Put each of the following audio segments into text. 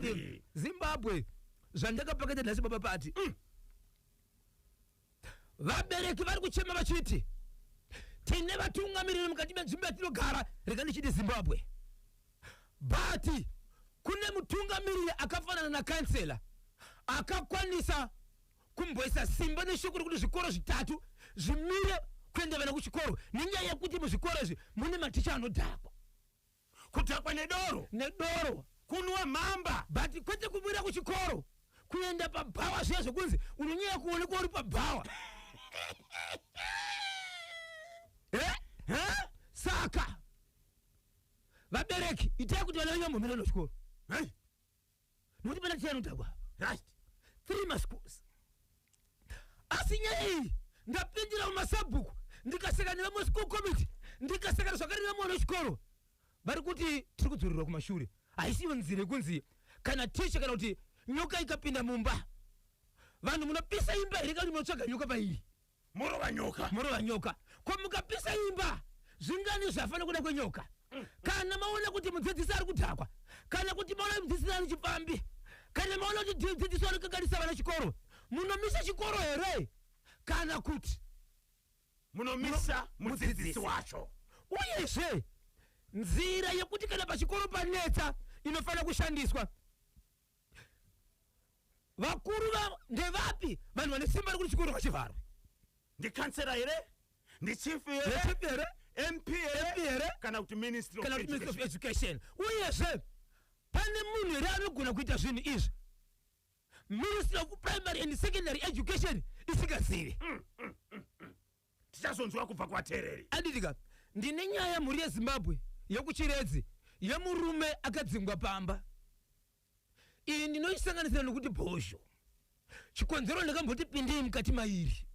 Zimbabwe, Zimbabwe zvandakapakata nhasi baba pati mm. vabereki vari kuchema vachiti tine vatungamiriri mukati menzvimbo yatinogara rega ndichiti zimbabwe but kune mutungamiriri akafanana nakansela akakwanisa kumboisa simba neshoko rekuti zvikoro zvitatu zvimire kuenda vana kuchikoro nenyaya yekuti muzvikoro izvi mune maticha anodhakwa kudhakwa nedoro nedoro kunwa mhamba but kwete kubuda kuchikoro kuenda pabhawa zviya zvekunzi unonyaya kuonekwa uri pabhawa Eh? Eh? saka vabereki itai kuti vana venyu vambomira nechikoro Hey, nokuti pana tichai anodhakwa rust three maschools asi nyaya iyi ndapindira mumasabhuku ndikaseka nevamwe school committee ndikaseka zvakare nevamwe vana vechikoro vari kuti tiri kudzorerwa kumashure haisiyo nzira yekunzi kana ticha kana kuti nyoka ikapinda mumba vanhu munopisa imba here kana kuti munotsvaga nyoka pairi morova nyoka morova nyoka ko mukapisa imba zvingani zvafanira kuda kwenyoka kana maona kuti mudzidzisi ari kudhakwa kana kuti maona mudzidzisi ari chipfambi kana maona kuti mudzidzisi ari kukanganisa vana chikoro munomisa chikoro here kana kuti munomisa mudzidzisi wacho uyezve nzira yekuti kana pachikoro panetsa inofanira kushandiswa vakuru vavo ndevapi vanhu vane simba rekuti chikoro ngachivharwe ndikansera here ndichief here Ndichief here? mp Mp here? kana kuti ministry of kana kuti minister of education education. uyezve pane munhu here anogona kuita zvinhu izvi ministry of primary and secondary education isingazivi tichazonzwa kubva kuvateereri aditika ndine nyaya mhuri yezimbabwe yekuchiredzi yemurume akadzingwa pamba iyi ndinoisanganisira nokuti bhozho chikonzero ndakamboti pindei mukati mairi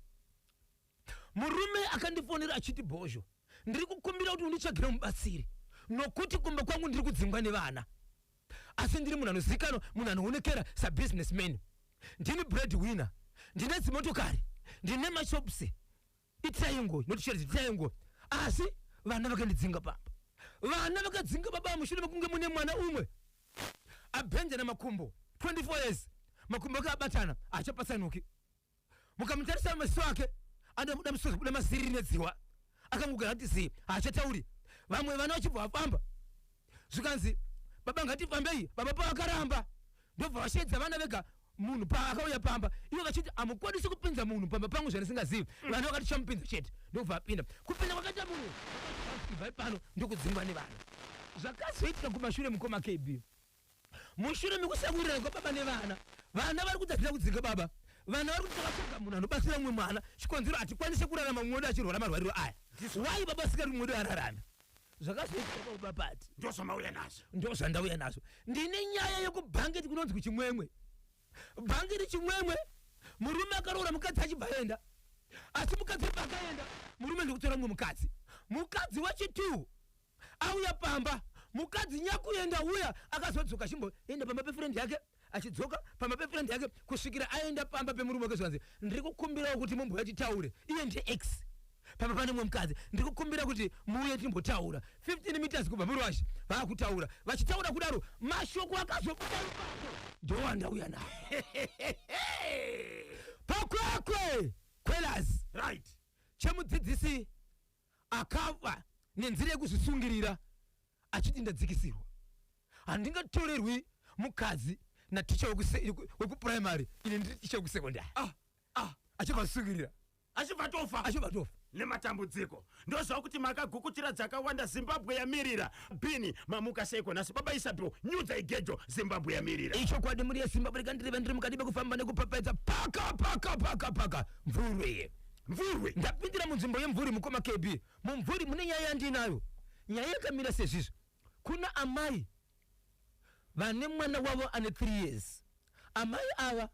murume akandifonera achiti bhozho ndiri kukumbira kuti unditsvagire mubatsiri nokuti kumba kwangu ndiri kudzingwa nevana asi ndiri munhu anozivikanwa munhu anoonekera sabusiness man ndini bread winner ndine dzimotokari ndine mashops itaingo inotisheredza itaingo asi vana vakandidzinga pamba vana vakadzinga baba mushure mekunge mune mwana umwe abhenjana makumbo 24 years makumbo akabatana achapatsanuki mukamutarisa maziso ake anobuda musoro kubuda maziriri nedzihwa akangogara kuti zii haachatauri vamwe vana vachibva vafamba zvikanzi baba ngatifambei baba pavakaramba ndobva vasheedza vana vega munhu paakauya pamba ivo vachiti hamukwanisi kupinza munhu pamba pangu zvandisingazivi mm. vana vakati chamupinza chete ndokubva apinda kupinda kwakaita munhu ibvai pano ndokudzingwa nevana zvakazoitika kumashure mukoma kb mushure mekusawirirana kwababa nevana vana vari kutadzira kudzinga baba vana vari kuti takatsvaga munhu anobatsira mumwe mwana chikonzero hatikwanise kurarama mumwe wedu achirwara marwariro aya wai baba asingati mumwe wedu ararame zvakazoitika paubapati ndozvamauya nazvo ndozvandauya nazvo ndine nyaya yekubhangeti kunonzwi chimwemwe bhangeti chimwemwe murume akaroora mukadzi achibva aenda asi mukadzi paakaenda murume ndikutora mumwe mukadzi mukadzi wacho two auya pamba mukadzi nyakuenda uya akazodzoka chimboenda pamba pefriend yake achidzoka pamba pefriend yake kusvikira aenda pamba pemurume wake zvikanzi ndiri kukumbirawo kuti mumbuya titaure iye ndiex pamba pane mumwe mukadzi ndiri kukumbira kuti muuye timbotaura 15 meters kubva murwashi vaakutaura vachitaura kudaro mashoko akazobuda ndowanda uya nawo pakwekwe kwelaz right chemudzidzisi akava nenzira yekuzvisungirira achiti ndadzikisirwa handingatorerwi mukadzi naticha wekupuraimary ine ndiri ticha wekusekondari ah, ah, achivasungirira achibva tofa achibva tofa nematambudziko ndozvava kuti makagukutira dzakawanda zimbabwe yamirira bini mamuka seiko nhasi baba isabel nyudza igejo zimbabwe yamirira ichokwadi muri yezimbabwe rekandireva ndiri mukati mekufamba nekupapaidza paka paka paka paka mvurwe Mvurwi. Ndapindira munzvimbo yemvuri mukoma KB. Mumvuri mune nyaya yandiinayo. Nyaya yakamira sezvizvi. Kuna amai vane mwana wavo ane 3 years. Amai ava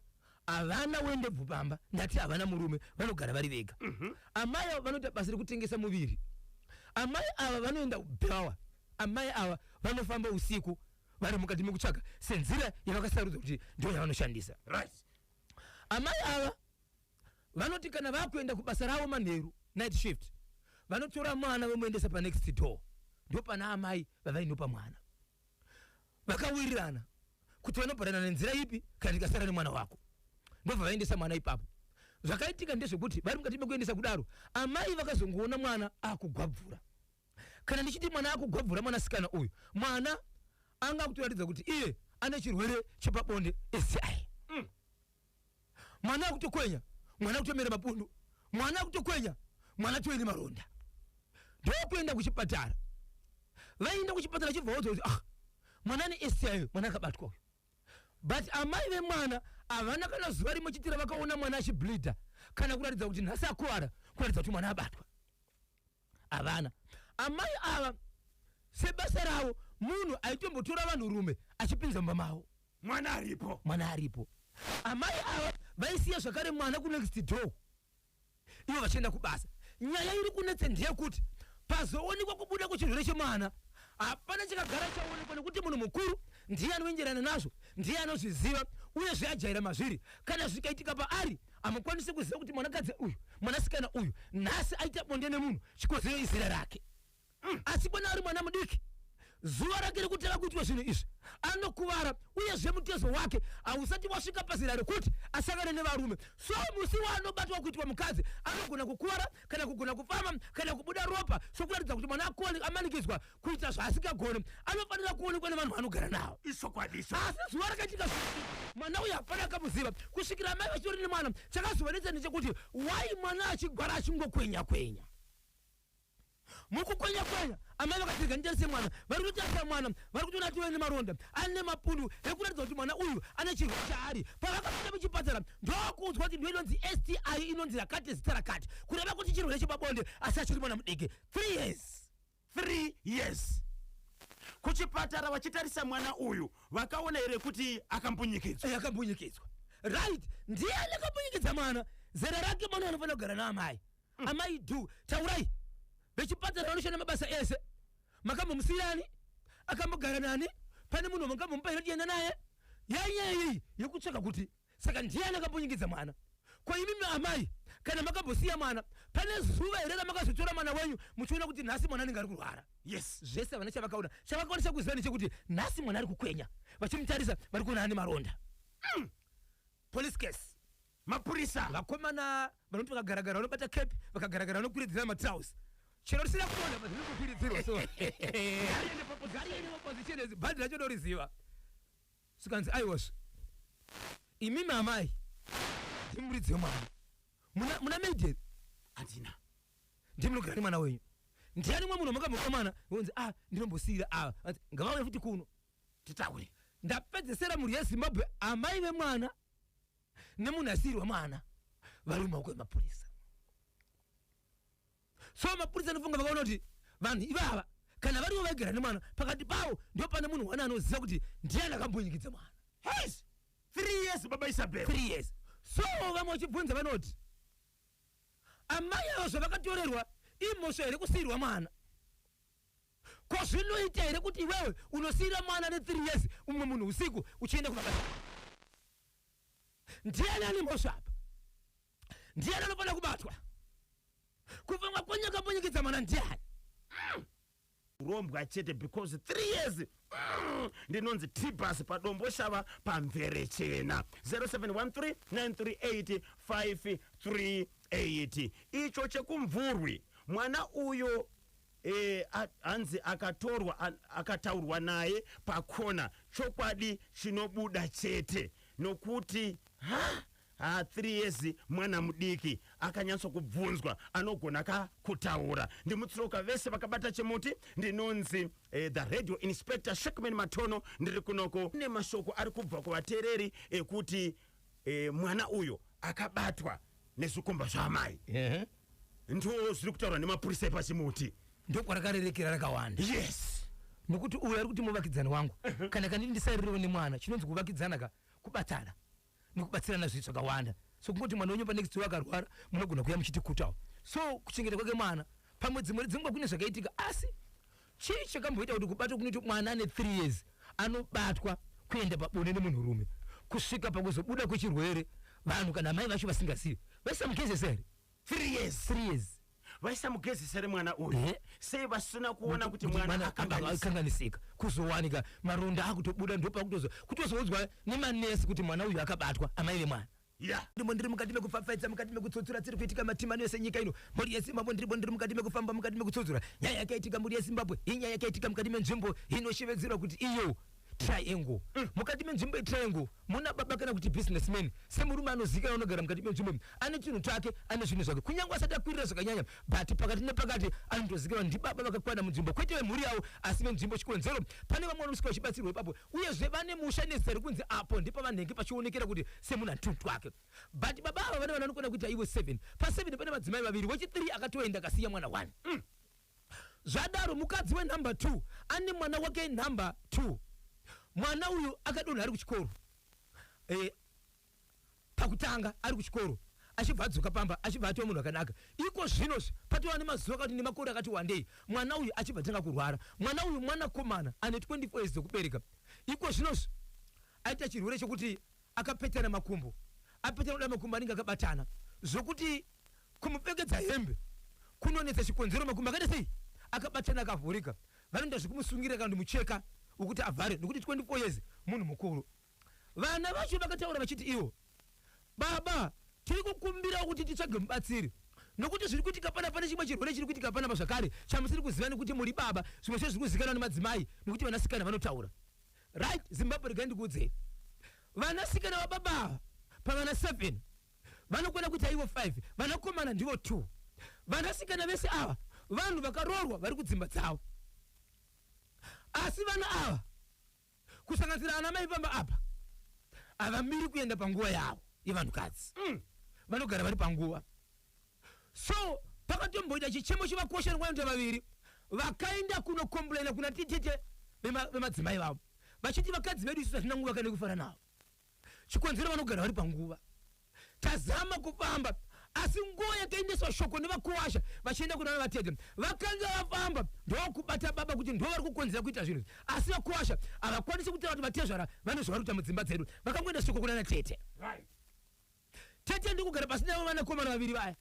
havana wendebvu pamba ndati havana murume vanogara vari vega. Mm -hmm. Amai ava vanoita basa rekutengesa muviri. Amai ava vanoenda kubhawa. Amai ava vanofamba usiku vari mukati mekutsvaga senzira yavakasarudza kuti ndiyo yavanoshandisa. Right. Amai ava vanoti kana vakuenda kubasa ravo manheru, night shift, vanotora mwana vomuendesa panext door ndopana amai vavainopa mwana vakawirirana kuti vanobhadana nenzira ipi kana tikasara nemwana wako ndobva vaendesa mwana ipapo zvakaitika ndezvekuti vari mukati mekuendesa kudaro amai vakazongoona mwana akugwabvura kana ndichiti mwana akugwabvura mwanasikana uyu mwana anga akutoratidza kuti iye ane chirwere chepabonde esi mwana akutokwenya mwana akutomera mapundu mwana akutokwenya mwana toine maronda ndokuenda kuchipatara vaienda kuchipatara chibva waudzwa kuti ah mwana ane sti mwana akabatwa uyu but amai vemwana havana kana zuva rimwe chitira vakaona mwana achibleeda kana kuratidza kuti nhasi akuwara kuratidza kuti mwana abatwa havana amai ava sebasa ravo munhu aitombotora vanhu rume achipinza mumba mavo mwana aripo mwana aripo amai ava vaisiya zvakare mwana kunext door ivo vachienda kubasa nyaya iri kunetse ndeyekuti pazoonekwa kubuda kwechirwere chemwana hapana chakagara chaonekwa nekuti munhu mukuru ndiye anoenderana nazvo ndiye anozviziva uyezve ajaira mazviri kana zvikaitika paari amukwanise kuziva kuti mwanakadzi uyu mwanasikana uyu nhasi aita bonde nemunhu chikozero izera rake mm. asi bona ari mwana mudiki zuva rake rekutanga kuitwa zvinhu izvi anokuvara uyezve mutezo wake hausati wasvika pazera rekuti asangane nevarume so musi waanobatwa kuitwa mukadzi anogona kukuvara kana kugona kufama kana kubuda ropa sokuratidza kuti mwana akoni amanikidzwa kuita zvaasingagone anofanira kuonekwa nevanhu vanogara nawo ichokwadi icho asi zuva rakaitika mwana uyu hapana akamuziva kusvikira amai vachitori nemwana chakazovanetsa ndechekuti wai mwana achigwara achingokwenya kwenya mukukwenya kwenya amai vakatirega nditarise mwana vari kutarisa mwana vari kutoona atiwe nemaronda ane mapundu ekuratidza kuti mwana uyu ane chirwo chaari pavakapinda muchipatara ndokuudzwa kuti ndo inonzi sti inonzi rakati zita rakati kureva kuti chirwere chepabonde asi achiri mwana mudiki 3 years 3 years kuchipatara vachitarisa mwana uyu vakaona here kuti akambunyikidzwa eh, akambunyikidzwa right ndiye anakambunyikidzwa mwana zera rake mwana anofanira kugara naamai mm. amai do taurai vechipatara vanoshanda mabasa ese makambomusiyirani akambogara nani pane munhu mangambomupa here tienda naye yainyaya iyi yekutsvaka kuti Saka ndiani akambunyikidza mwana? Ko imimi amai kana makambosiya mwana pane zuva here ramakazotora mwana wenyu muchiona kuti nhasi mwana anenge ari kurwara? Yes. Zvese havana chavakaona. Chavakwanisa kuziva ndechekuti nhasi mwana ari kukwenya. Vachimutarisa vari kuona ane maronda. Mm. Police case. Mapurisa. Vakomana vanoti vakagaragara vanobata cap vakagaragara vanokwiridzira matrouse. Chero risina kuona mazviri kukwiridzirwa so. Gari ende paposition. Gari ende paposition. Bhadhi racho ndoriziva. zvikanzi aiwazve imimi amai ndimuridzi wemwana muna, muna maiden handina ndimunogirani mwana wenyu ndiani mwe munhu makambopa mwana onzi a ah, ndinombosiyira ava ah, ngavauye futi kuno titaure ndapedzesera mhuri yezimbabwe amai vemwana nemunhu asiyirwa mwana vari mumawoko emapurisa so mapurisa anofunga vakaona kuti vanhu ivava kana variwo vaigara nemwana pakati pavo ndo pane munhu wana anoziva kuti ndiyani akambunyikidza mwana hes three years baba isabel three years so vamwe vachibvunza vanoti amai avo zvavakatorerwa imhosva here kusiirwa mwana ko zvinoita here kuti iwewe unosiira mwana ne three years umwe munhu usiku uchienda kubaba ndiani ane mhosva apa ndiani anofanira kubatwa kupfungwa konyaka ponyekidza mwana ndiani mm. rombwa chete because three years mm, ndinonzi tibus padombo shava pamvere chena 0713938538 icho chekumvurwi mwana uyo eh, hanzi akatorwa akataurwa naye pakona chokwadi chinobuda chete nokuti ha Haa three years mwana mudiki akanyatso kubvunzwa anogona ka kutaura. Ndimutsiroka vese vakabata chimuti ndinonzi eh, the radio inspector Shackman Matono ndiri kunoko nemashoko ari kubva kuvatereri ekuti eh, mwana uyo akabatwa nezvikomba zvaamai Ehe. ndiwo zviri kutaurwa nemapurisa epachimuti ndokwarakarerikira rakawanda yes nokuti uyo ari kuti muvakidzani wangu kana kandiri ndisaririwo nemwana chinonzi kuvakidzana ka kubatana nekubatsirana zvinhu zvakawanda so kungoti mwana wenyu panext door akarwara munogona kuya muchitikutawo so kuchengeta kwake mwana pamwe dzimwe dzenguva kune zvakaitika asi chii chakamboita kuti kubatwa kunoita mwana ane three years anobatwa kuenda pabonde nemunhurume kusvika pakuzobuda kwechirwere vanhu kana amai vacho vasingazivi vesamukezese here 3 years 3 years vaisamugezesa here mwana uyu Eh. sei vasina kuona kuti mwana akanganisika akanganisika kuzowanika maronda akutobuda ndopakutozo kutozoudzwa nemanesi kuti mwana uyu akabatwa amai vemwana ya ndimo ndiri mukati mekupfapfaidza mukati mekutsotsura tsiri kuitika matimano yose nyika ino mhuri yezimbabwe ndiripo ndiri mukati mekufamba mukati mekutsotsura nyaya yakaitika mhuri yezimbabwe inyaya yakaitika mukati menzvimbo inoshevedzerwa kuti iyo triangle mm. mukati menzvimbo yetriangle muna baba kana kuti businessman semurume anozikana unogara mukati menzvimbo ane chinhu chake ane zvinhu zvake kunyange asati akwirira zvakanyanya but pakati nepakati anotozikana ndibaba vakakwana munzvimbo kwete vemhuri yavo asi venzvimbo chikonzero pane vamwe vanosvika vachibatsirwa ipapo uyezve vane musha nezita rekunzi apo ndipo vanenge pachionekera kuti semunhu ane tunhu twake but baba ava vane vana vanokona kuita ivo seven paseven pane madzimai vaviri wechithree akatoenda akasiya mwana one mm. Zvadaro mukadzi wenumber two ane mwana wake number two. Mwana uyu akadonha ari kuchikoro. Eh, pakutanga ari kuchikoro achibva adzoka pamba achibva atova munhu akanaka iko zvino zve patova nemazuva akati nemakore akati wandei mwana uyu achibva atanga kurwara mwana uyu mwanakomana ane 24 years dzekubereka iko zvino zve aita chirwere chekuti akapetana makumbo apetana kuda makumbo anenge akabatana zvokuti kumupfekedza hembe kunonetsa chikonzero makumbo akaita sei akabatana akavhurika vanoita zvekumusungira kana kuti mucheka wekuti avhare nekuti 24 years munhu mukuru vana vacho vakataura vachiti ivo baba tiri kukumbira kuti titsvage mubatsiri nokuti zviri kuitika pana pane chimwe chirwere chiri kuitika panapa zvakare chamusiri kuziva nekuti muri baba zvimwe zvacho zviri kuzikanwa nemadzimai nekuti vanasikana vanotaura Right, Zimbabwe regai ndikuudzei. Vanasikana vababa ava pavana 7 vanokwana kuita ivo 5, vanakomana ndivo 2. Vanasikana vese ava vanhu vakaroorwa vari kudzimba dzavo. Asi vana ava kusanganisira ana mai pamba apa havamiri kuenda panguva yavo yevanhukadzi. Mm. Vanogara vari panguva. so pakatomboita chichemo chevakosha rwanda vaviri vakaenda kunokomplaina kuna titete vemadzimai vavo vachiti vakadzi vedu isu hatina nguva kana kufara navo chikonzero vanogara vari panguva tazama kufamba asi nguva yakaendeswa shoko nevakuwasha vachienda kuna vatete vakanga vafamba ndokubata baba kuti ndo vari kukonzera kuita zvinhu asi vakuwasha havakwanisi kutaura kuti vatezvara vanozvara kuita mudzimba dzedu vakangoenda shoko kuna natete right. tete ndokugara pasi navo vanakomana vaviri vaya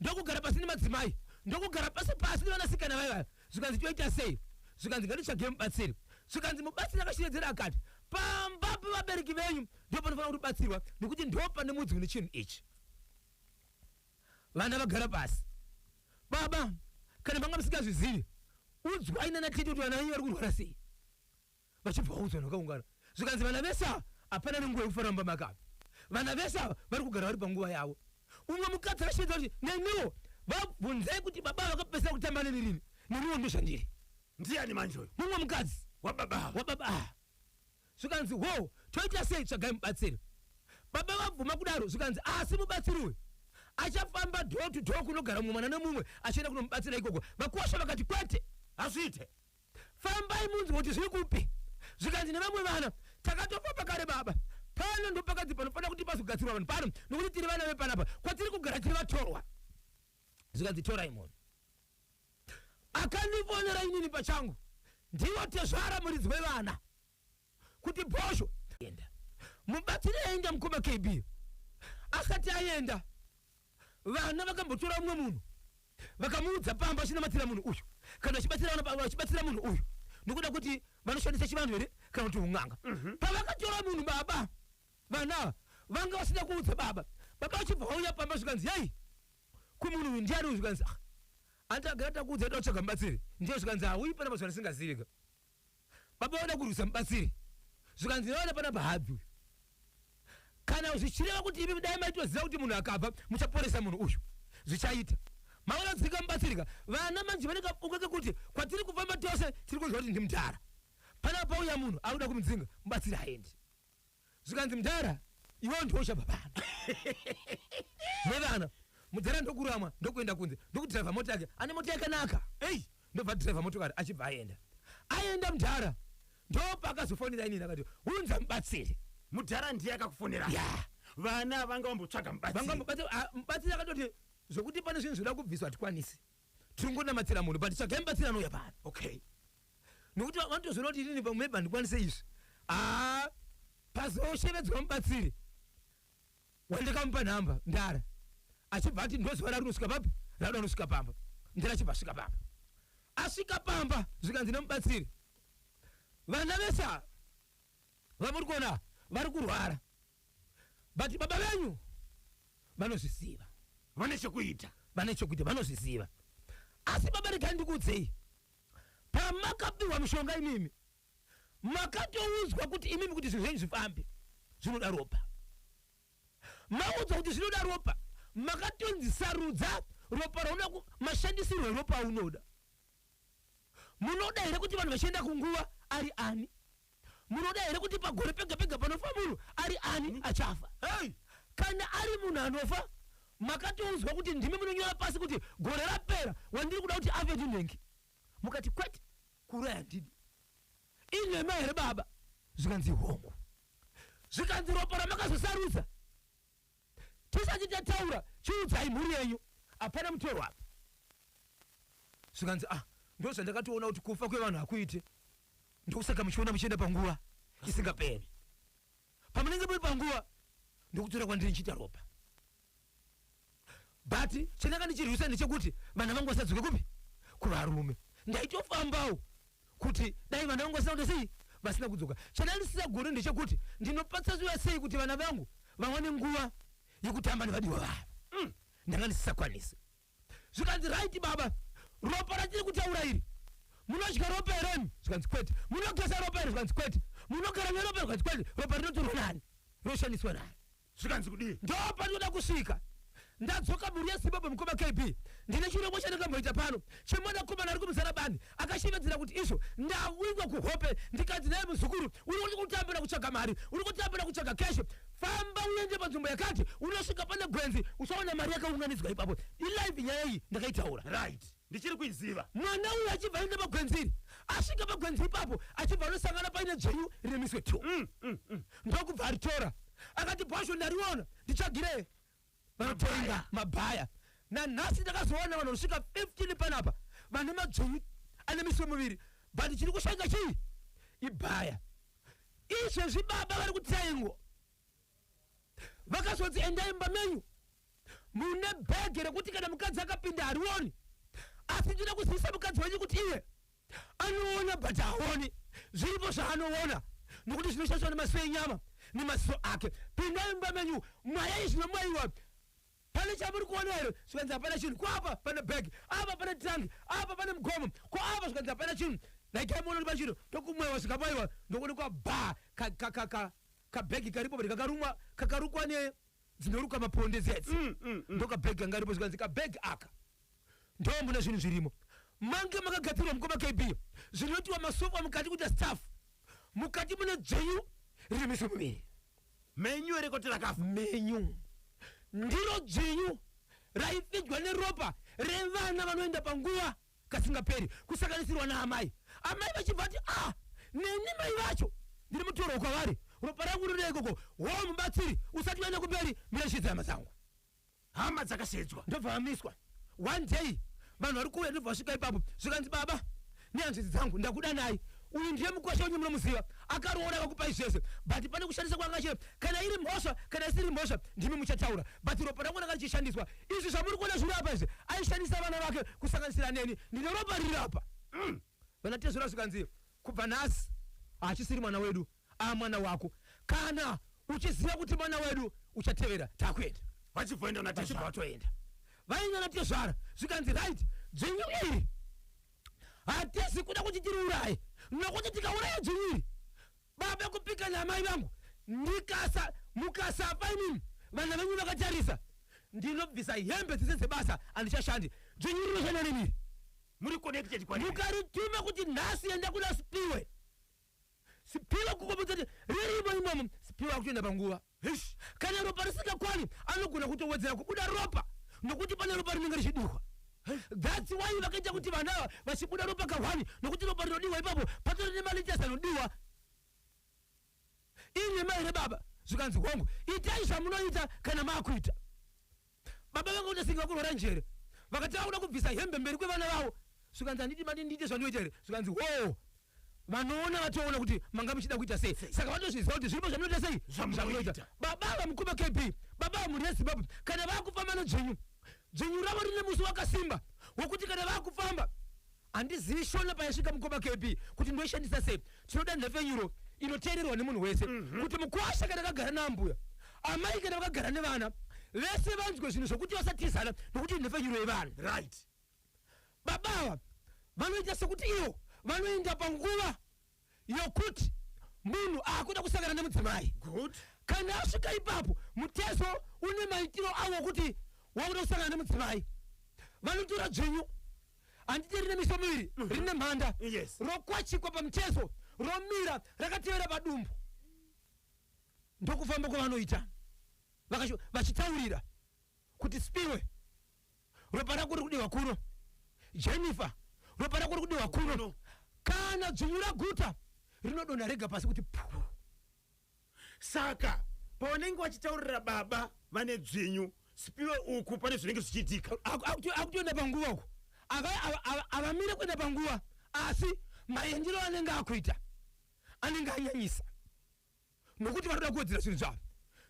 ndokugara pasi nemadzimai ndokugara pasi pasi nevanasikana vaye vaya zvikanzi toita sei zvikanzi ngatitsvage mubatsiri zvikanzi mubatsiri akashevedzera akati pamba pevabereki venyu ndipo panofanira kutobatsirwa nekuti ndo pane mudzi une chinhu ichi vana vagara pasi baba kana manga musingazvizivi udzwai nana tete kuti vana venyu vari kurwara sei vachibva vaudzwa nakaungana zvikanzi vana vese ava hapana nenguva yekufara mumba makava vana vese ava vari kugara vari panguva yavo umwe mukadzi akashedza kuti neniwo vabvunzei kuti baba vakapesera kutamba neni rini neniwo ndozvandiri ndiani manje uyu mumwe mukadzi wababa ava wababa ava zvikanzi wo toita sei tsvagai mubatsiri baba vabvuma kudaro zvikanzi asi mubatsiri uyu achafamba door to door kunogara mumwe mwana nemumwe achienda kunomubatsira ikoko vakosha vakati kwete hazviite fambai munzwe kuti zviri kupi zvikanzi nevamwe vana takatofamba kare baba pano ndopakadzi panofanira kuti pazogadzirwa vanhu pano nokuti tiri vana vepanapa kwatiri kugara tiri vatorwa zvikanzi torai munhu akandifonera inini pachangu ndivo tezvara muridzi wevana kuti bhosho enda mubatsiri aenda mukoma kb asati aenda vana vakambotora umwe munhu vakamuudza pamba achinamatira munhu uyu kana vachibatsira munhu uyu nokuda kuti vanoshandisa chivanhu here kana kuti un'anga mhm. pavakatora munhu baba vana vanga vasina kuudza baba baba vachibva vauya pamba zvikanzi yai kumunhu uyu ndiani uyu zvikanzi ah, andagara takuudza ita kutsvaga mubatsiri ndiye zvikanzi hauyi ah, pana mazuva asingazivi ka baba vanoda kurwisa mubatsiri zvikanzi naona panapa habvi uyu kana zvichireva kuti imi dai maitoziva kuti munhu akabva muchaporesa munhu uyu zvichaita maona dzika mubatsirika vana manje vanenge ungake kuti kwatiri kufamba tose tiri kunzwa kuti ndimudhara panapa pauya munhu akuda kumudzinga mubatsiri haendi zvikanzi mdhara iwewo ndiwo uchabva pano nevana mudhara ndokuramwa ndokuenda kunze ndokudhiraivha mota yake ane mota yakanaka ei ndobva dhiraivha motokari achibva aenda aenda mdhara ndopaakazofonera inini akati unza mubatsiri mudhara ndiye akakufonera ya vana vanga vambotsvaga mubatsiri vangamubatsiri akatoti zvokuti pane zvinhu zvoda kubviswa hatikwanisi tiri kungonamatira munhu but tsvagai mubatsiri anouya pano okay nokuti vanotozoona kuti inini pamwe maybe handikwanise izvi aa pazoshevedzwa mubatsiri wandakamupa nhamba ndara achibva ati ndoziva rarinosvika papi rauda anosvika pamba ndara achibva asvika pamba asvika pamba zvikanzi nemubatsiri vana vese ava vamuri kuona vari kurwara but baba venyu vanozviziva vane chekuita vane chekuita vanozviziva asi baba regai ndikuudzei pamakapiwa mushonga imimi makatoudzwa kuti imimi kuti zvinhu zvenyu zvifambe zvinoda ropa maudzwa kuti zvinoda ropa makatonzi sarudza ropa raunoda ku- mashandisirwo eropa aunoda munoda here kuti vanhu vachienda kunguva ari ani Munoda here kuti pagore pega pega panofa munhu ari ani achafa? Hey! Kana ari munhu anofa makatoudzwa kuti ndimi munonyora pasi kuti gore rapera wandiri kuda kuti afe ndinhengi mukati kwete kuuraya ndini inhema here baba zvikanzi hongu zvikanzi ropa ramakazosarudza tisati tataura chiudzai mhuri yenyu hapana mutoro apa zvikanzi ah ndo zvandakatoona kuti kufa kwevanhu hakuite ndokusaka muchiona muchienda panguva isingaperi pamunenge muri panguva ndokutora kwandiri nchiita ropa but chandanga ndichirwisa ndechekuti vana vangu vasadzoke kupi kuvarume ndaitofambawo kuti dai vana vangu vasina kuita sei vasina kudzoka chandanga ndisisagone ndechekuti ndinopatsaziwa sei kuti vana vangu vawane nguva yekutamba nevadiwa vavo mm. ndanga ndisisakwanisi zvikanzi right baba ropa ratiri kutaura iri munodya ropa heremi zvikanzi kwete munogeza ropa iri zvikanzi kwete munogara neropa zvikanzi kwete ropa rinotorwa nani rinoshandiswa nani zvikanzi kudii ndopandinoda kusvika ndadzoka mhuri yezimbabwe mukoma kb ndine chirongwa chandakamboita pano chemwana komana ari kumuzara bani akashevedzera kuti izvo ndawingwa kuhope ndikanzi naye muzukuru uri kutambira kutsvaga mari uri kutambira kutsvaga keshe famba uende panzvimbo yakati unosvika pane gwenzi usaona mari yakaunganidzwa ipapo ilive nyaya iyi ndakaitaura right ndichiri kuiziva. Mwana uyu achibva aenda pagwenziri asvika pagwenzi ipapo achibva anosangana paine dzvenyu rine miswe two mm, mm, mm. ndokubva aritora akati bhasho ndariona ndichagire vanotenga mabhaya nanhasi ndakazoona vanhu vanosvika 15 panapa vane madzvenyu ane miswe muviri but chiri kushanga chii ibhaya izvezvi baba vari kutengwa vakazonzi endai mumba menyu mune bhege rekuti kana mukadzi akapinda harioni asi ndinoda kuzivisa mukadzi wenyu kuti iye anoona but haoni zviripo zvaanoona nokuti zvinoshandiswa nemaziso enyama nemaziso ake pindai mumba menyu mwayai zvinomwaiwa pane chamuri kuona here zvikanzi hapana chinhu kwapa pane bhegi apa pane trangi apa pane mugomo ko apa zvikanzi hapana chinhu ndaikai muona kuti pachino tokumwewa zvikamwaiwa ndokuonekwa bha kabhegi karipo but kakarumwa kakarukwa ne dzinoruka maponde dzedzi Mm, mm, mm. ndokabhegi kanga karipo zvikanzi kabhegi aka ndomuna zvinhu zvirimo mange makagadzirwa mukoma kb zvinotiwa masofa mukati kuita staff mukati mune dzvenyu riri miso miviri menyu here kuti rakafa menyu ndiro dzvinyu raipfidwa neropa revana vanoenda panguva kasingaperi kusanganisirwa naamai amai vachibva ti a ah, neni mai vacho ndiri mutorwa kwavari ropa rangu rinoda ikoko hoo mubatsiri usati uende kumberi mirashidza hama dzangu hama dzakasedzwa ndobva vamiswa one day vanhu vari kuuya ndobva vasvika ipapo zvikanzi baba nehanzvadzi dzangu ndakuda nayi uyu ndiye mukwasha wenyu munomuziva akaroora akakupai zvese but pane kushandisa kwanga chiro kana iri mhosva kana isiri mhosva ndimi muchataura but ropa rangu ranga richishandiswa Izvi zvamuri kuona zviri apa izvi aishandisa vana vake kusanganisira neni ndine ropa riri apa. Mm. Vana Tezvara zvikanzi kubva nhasi hachisiri mwana wedu a mwana wako kana uchiziva kuti mwana wedu uchatevera takuenda. Vachibvoenda na Tezvara. Vachibvoenda. Vainga na Tezvara zvikanzi right dzvinyu iri hatizi kuda kuti tiriuraye nokuti tikauraya dzvinyu iri Baba kupika namai vangu ndikasa mukasafa imimi vana venyu vakatarisa ndinobvisa hembe dzese dzebasa andichashandi dzvenyu rinoshanda nemi muri connected kwa mukarituma kuti nhasi enda kuna sipiwe sipiwe kukomudza kuti ririmo imomo sipiwe akutoenda panguva Kana ropa risingakwani anogona kutowedzera kubuda ropa nokuti pane ropa rinenge richidirwa. That's why vakaita kuti vana ava vachibuda ropa kahwani nokuti ropa rinodiwa ipapo patori nemaliters anodiwa. Ini mai rebaba zvikanzi hongu itai zvamunoita kana makuita. baba vanga kuti singa kurwara njere vakati vakuda kubvisa hembe mberi kwevana vavo zvikanzi handiti mati ndiite zvandiyoita here zvikanzi hoo vanoona vatoona kuti manga muchida kuita sei saka vatozviziva kuti zviripo zvamunoita sei zvamunoita baba vamukoma kb baba vamhuri yezimbabwe kana vakufamba nedzvinyu dzvinyu ravo rine musi wakasimba wokuti kana vakufamba handizivi shona payasvika mukoma kb kuti ndoishandisa sei tinoda nhepfenyuro inoteererwa nemunhu wese mhm. kuti mukwasha kana akagara naambuya amai kana vakagara nevana vese vanzwe zvinhu zvokuti vasatizana nokuti nhepfenyuro yevanhu right baba ava vanoita sekuti ivo vanoenda panguva yokuti munhu akuda kusangana nemudzimai Good. kana asvika ipapo mutezo une maitiro awo okuti wakuda kusangana nemudzimai vanotora dzvinyu handiti rine miso miviri rine mhanda Yes. rokwachikwa pamutezo romira rakatevera padumbu ndokufamba kwavanoita Vakasho- vachitaurira kuti spiwe ropa rako riri kudiwa kuno jennifer ropa rako riri kudiwa kuno kana dzunyu raguta rinodonha rega pasi kuti puu saka pavanenge vachitaurira baba vane dzvinyu spiwe uku pane zvinenge zvichiitika Aku- akuto- akutoenda panguva uko Ava- ava- ava- avamire kuenda panguva asi maendero anenge akuita anenge anyanyisa nokuti vanoda kuwedzera zvinhu zvavo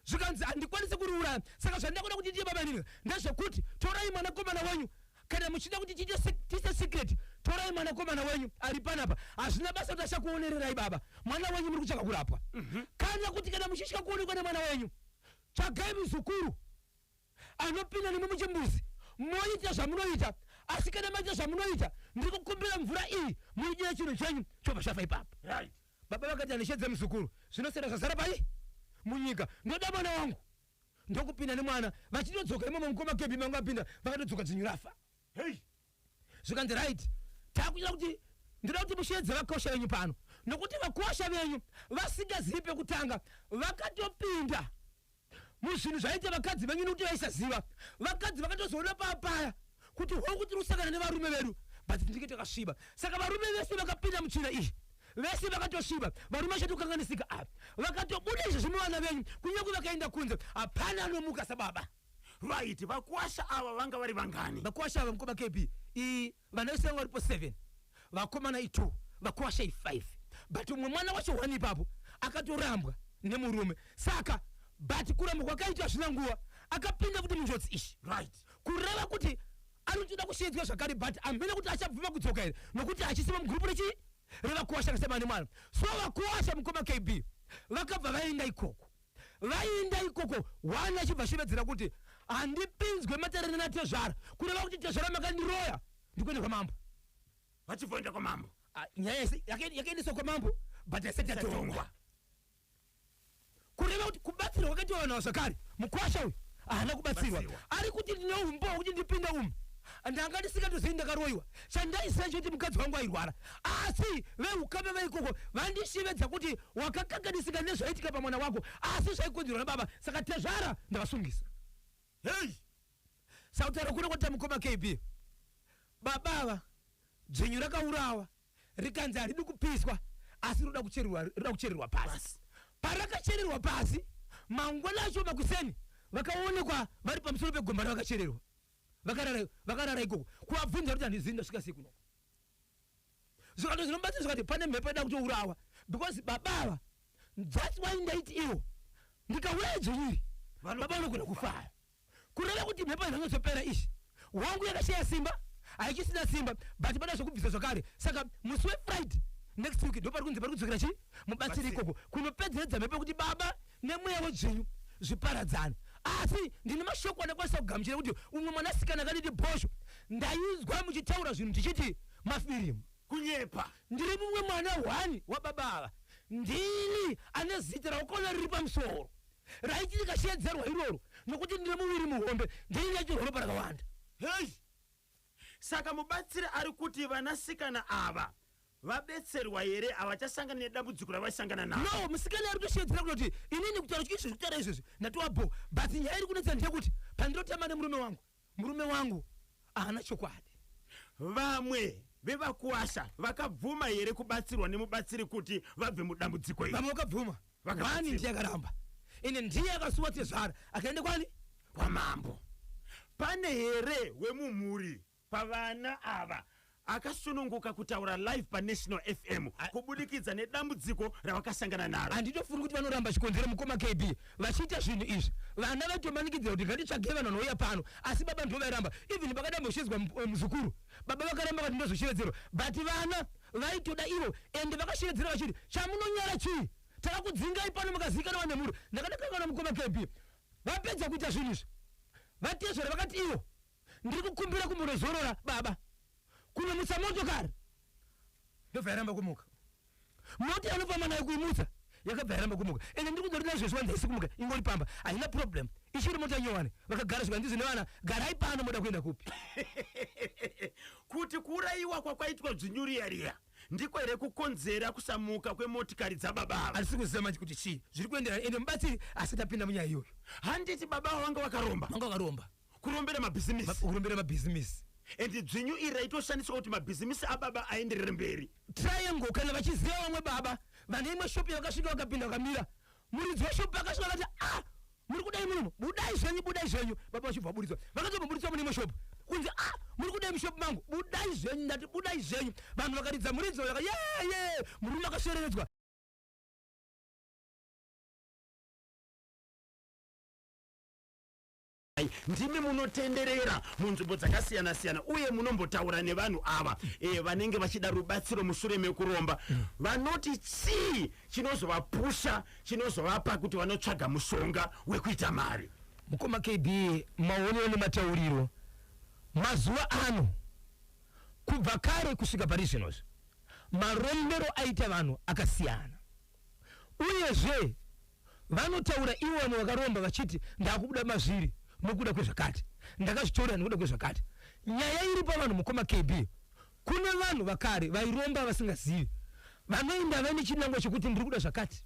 zvikanzi handikwanise kuriuraya saka zvandakuda kuti ndiye babanini ndezvekuti torai mwanakomana wenyu kana muchida kuti tiite secret torai mwanakomana wenyu ari panapa hazvina basa kuti achakuonererai baba mwana wenyu muri kutsvaka kurapwa mhm. kana kuti kana muchitya kuonekwa nemwana wenyu tsvagai muzukuru anopinda nemwe muchimbuzi moita zvamunoita asi kana maita zvamunoita ndiri kukumbira mvura iyi muidira chinhu chenyu chobva chafa ipapo right baba vakati handishedze muzukuru zvinosiyana zvazara pai munyika ndoda mwana wangu ndokupinda nemwana vachitodzoka imomo mukoma kebhi mangu apinda vakatodzoka dzinyu rafa hey zvikanzi right takunyira kuti ndinoda kuti musheedze vakosha venyu pano nokuti vakosha venyu vasingazivi pekutanga vakatopinda muzvinhu zvaita vakadzi venyu nokuti vaisaziva vakadzi vakatozoona paa paya kuti hongu tiri kusangana nevarume vedu but tinenge takasviba saka varume vese vakapinda mutsvina iyi vese vakatosviba varume vachatokanganisika ava vakatobuda izvo zvimuvana venyu kunyange vakaenda kunze hapana anomuka sababa Right, vakwasha ava vanga vari vangani? Vakwasha ava mkoma KB i vana vese vanga varipo 7. Vakomana i 2, vakwasha i 5. But umwe mwana wacho one ipapo akatorambwa nemurume. Saka but kurambwa kwakaitwa zvina nguva akapinda kuti munjodzi ishi. Right. Kureva kuti anotoda kusheedzwa zvakare but amhena kuti achabvuma kudzoka here nokuti hachisiwa mugroup rechi revakuwasha akasema nemwana so vakuwasha mukoma kb vakabva vaenda ikoko Vaienda ikoko One achibva ashevedzera kuti handipinzwe matarana natezvara kureva kuti tezvara makandiroya ndikuenda kwamambo. Vachibvoenda kwamambo. Ah, nyaya yese yake- yakaendeswa kwamambo but haisati yatongwa kureva kuti kubatsirwa kwakaitwa vanhu ava zvakare mukwasha uyu haana kubatsirwa Batsirwa. ari kuti ndine umbowa kuti ndipinde umu ndanga ndisingatozivi ndakaroyiwa chandaiziva chekuti mukadzi wangu airwara asi veukama veikoko vandishevedza kuti Wakakanganisika nezvaitika pamwana wako asi zvaikonzerwa nababa saka tezvara ndavasungisa. Hey! Sakutaura kuno kwatita mukoma KB. Baba ava dzvinyu rakaurawa rikanzi haridi kupiswa asi rinoda kuchererwa rinoda kuchererwa pasi. Parakachererwa pasi mangwana acho makuseni vakaonekwa vari pamusoro pegomba ravakachererwa. Vakarara vakarara ikoko. Kuvabvunza kuti handizivi ndasvika sei kuno. zvikando zvinobatsira zvikati pane mhepo ida kutourawa because baba ava thats why ndaiti iwo ndikauraya dzonyiri baba vanogona kufara kureva kuti mhepo zvinozopera izvi wangu yakashaya simba haichisina simba but pada zvekubvisa zvakare saka musi wefriday next week ndopari kunzi pari kudzokera chii mubatsiri ikoko kunopedzeredza mhepo yekuti baba nemweya wedzvinyu zviparadzane asi ndine mashoko anakwanisa kugamuchira kuti umwe mwanasikana akaditi bhosho ndainzwa muchitaura zvinhu ndichiti mafirimu kunyepa ndiri mumwe mwana hwani wababa ava ndini ane zita raukona riri pamusoro raiti rikashedzerwa iroro nokuti ndine muviri muhombe ndini yachirworopa rakawanda hei Saka mubatsiri ari kuti vanasikana ava vabetserwa here havachasangana nedambudziko ravaisangana naro no musikana ari kutoshedzera kunoti inini kutaura chii izvozvi kutaura izvozvi ndatowa bho but nyaya iri kunetsa ndeyekuti pandinotamba nemurume wangu murume wangu haana chokwadi vamwe vevakuwasha vakabvuma here kubatsirwa nemubatsiri kuti vabve mudambudziko iri vamwe vakabvuma Vani ndiye akaramba ende ndiye akasuwa tezvara akaenda kwani kwamambo pane here wemumhuri pavana ava akasununguka kutaura live panational fm kubudikidza nedambudziko ravakasangana naro handitofungi kuti vanoramba chikonzero mukoma kb vachiita zvinhu izvi vana vaitomanikidzira kuti ngatitsvage vanhu vanouya pano asi baba ndivo vairamba even pakadamboshidzwa eh, muzukuru baba vakaramba vati ndozoshevedzerwa but vana Vaitoda ivo ende vakashevedzera vachiti chamunonyara chii takakudzingai pano makazivikanwa nemhuri ndakadakanga na mukoma KB vapedza kuita zvinhu izvi vatezvara vakati ivo ndiri kukumbira kumbonozorora baba kunomutsa motokari ndobva yaramba kumuka mota yanofamba nayo kuimutsa yakabva yaramba kumuka ende ndiri kungori nazvo zviwanza isi kumuka ingori pamba haina problem ichiri mota nyowani vakagara zvika ndizi nevana garai pano moda kuenda kupi kuti kuurayiwa kwakwaitwa dzvinyuriya riya ndiko here kukonzera kusamuka kwemotikari dzababa ava handisi kuziva manje kuti chii zviri kuenderana ende mubatsiri asati apinda munyaya iyoyo handiti baba avo vanga vakaromba vanga vakaromba kurombera mabhizimisi kurombera mabhizimisi and dzvinyu iri raitoshandiswa kuti mabhizimisi ababa aenderere mberi triangle kana vachiziva vamwe baba vane imwe shop yavakasvika vakapinda vakamira muridzi weshop akasvika akati ah muri kudai muno budai zvenyu budai zvenyu baba vachibva vaburitswa vakatobva buritswa mune imwe shop kunzi ah muri kudai mushop mangu budai zvenyu ndati budai zvenyu vanhu vakaridza muridzi vaka ye ye murume akashereredzwa ndimi munotenderera munzvimbo dzakasiyana siyana uye munombotaura nevanhu ava e, vanenge vachida rubatsiro mushure mekuromba vanoti chii chinozovapusha chinozovapa kuti vanotsvaga mushonga wekuita mari mukoma kb maonero nematauriro mazuva ano kubva kare kusvika pari zvinozvi marombero aita vanhu akasiyana Uyezve, vanotaura ivo vamwe vakaromba vachiti, Ndakuda mazviri nokuda kwezvakati. Ndakazvitorera nokuda kwezvakati. Nyaya iri pavanhu mukoma KB. Kune vanhu vakare vairomba vasingazivi. Vanoenda vaine chinangwa chokuti ndiri kuda zvakati.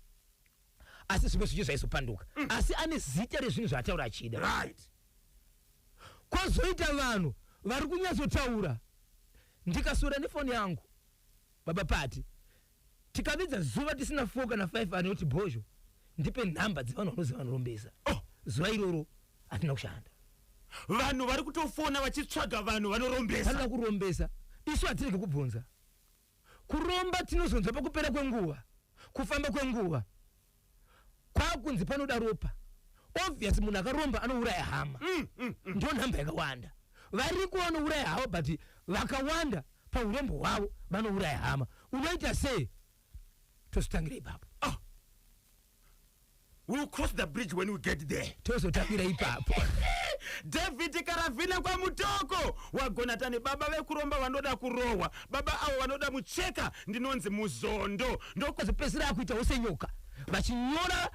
Asi zvimwe zvicho zvaizopanduka. Asi ane zita rezvinhu zvaataura achida. Right. Kwozoita vanhu vari kunyatsotaura ndikaswera nefoni yangu. Baba Pati, Tikapedza zuva tisina four kana five anoti Bhozho ndipe nhamba dzevanhu vanozi vanorombesa. Oh! Zuva iroro hatina kushanda. Vanhu vari kutofona vachitsvaga vanhu vanorombesa. Vanoda kurombesa. Isu hatirege kubvunza. Kuromba tinozonzwa pakupera kwenguva, kufamba kwenguva. kwakunzi panoda ropa obvious munhu akaromba anouraya hama mm, mm, mm. ndo nhamba yakawanda variko vanouraya havo but vakawanda paurombo hwavo vanouraya hama unoita sei tozotangira ipapo oh. we'll cross the bridge when we get there tozotangira ipapo david karavhina kwamutoko wagonatani baba vekuromba vanoda kurohwa Baba avo vanoda mucheka ndinonzi muzondo ndokuzopedzisira akuita ose nyoka vachinyora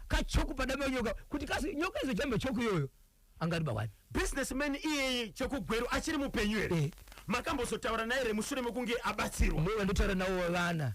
kachoku ka, ka padama nyoka kuti kasi nyoka izojamba choku iyoyo angariba wani businessman iyeye chokugweru achiri mupenyu here eh. makambozotaura naye here mushure mekunge abatsirwa ndotaura nawo vana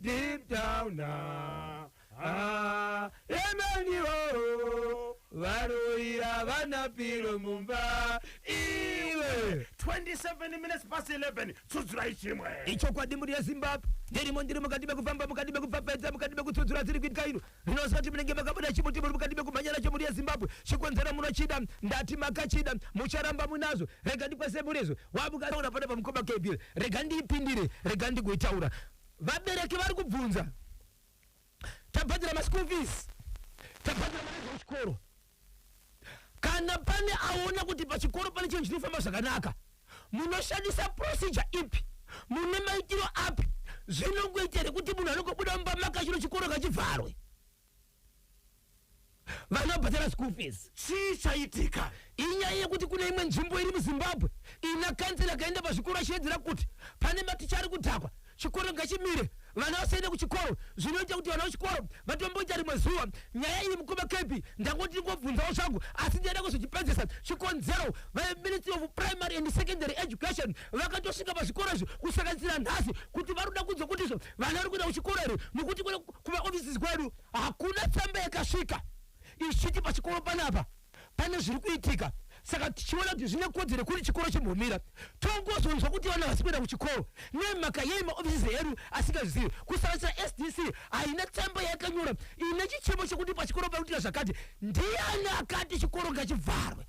Deep down ah, ah, emaniwo varoira vana piro mumba iwe 27 minutes past 11 tsudzurai chimwe ichokwadi mhuri yezimbabwe ndirimo ndiri mukati mekufamba mukati mekupfapfaidza mukati mekutsudzura dziri kuitika ino Ndinoziva kuti munenge makabuda chimuti muri mukati mekumhanya nacho muri yeZimbabwe chikonzero munochida ndati makachida mucharamba munazvo rega ndikwese murezo wamukaona pana pamukoma Gabriel rega ndiipindire rega ndigoitaura vabereki vari kubvunza tabhadhira maschool fees tabhadhira mari dzechikoro kana pane aona kuti pachikoro pane chinhu chinofamba zvakanaka munoshandisa procedure ipi mune maitiro api zvinongoita here kuti munhu anongobuda mumba makachiro chikoro kachivharwe vana vabhadhara school fees chii chaitika inyaya yekuti kune imwe nzvimbo iri muzimbabwe ina kanzera kaenda pazvikoro achiedzera kuti pane maticha ari kudhakwa Chikoro ngachimire vana vasaende kuchikoro zvinoita kuti vana vechikoro vatomboita rimwe zuva nyaya iyi mukoma Kepi ndangoti ndingobvunzawo zvangu asi ndichada kuzochipedzesa chikonzero veministry of primary and secondary education vakatosvika pazvikoro izvi kusanganisira nhasi kuti vari kuda kunzwa kuti izvo vana vari kuenda kuchikoro here nokuti kumaoffices kwedu hakuna tsamba yakasvika ichiti pachikoro panapa pane zviri kuitika saka tichiona kuti zvine kodzero kuri chikoro chimbomira tongozonzwa kuti vana vasi kuenda kuchikoro nemhaka yei maofisisi edu asingazvizivi kusanganisira sdc haina tsamba yakanyora ine chichemo chekuti pachikoro pakuitika zvakati ndiani akati chikoro ngachivharwe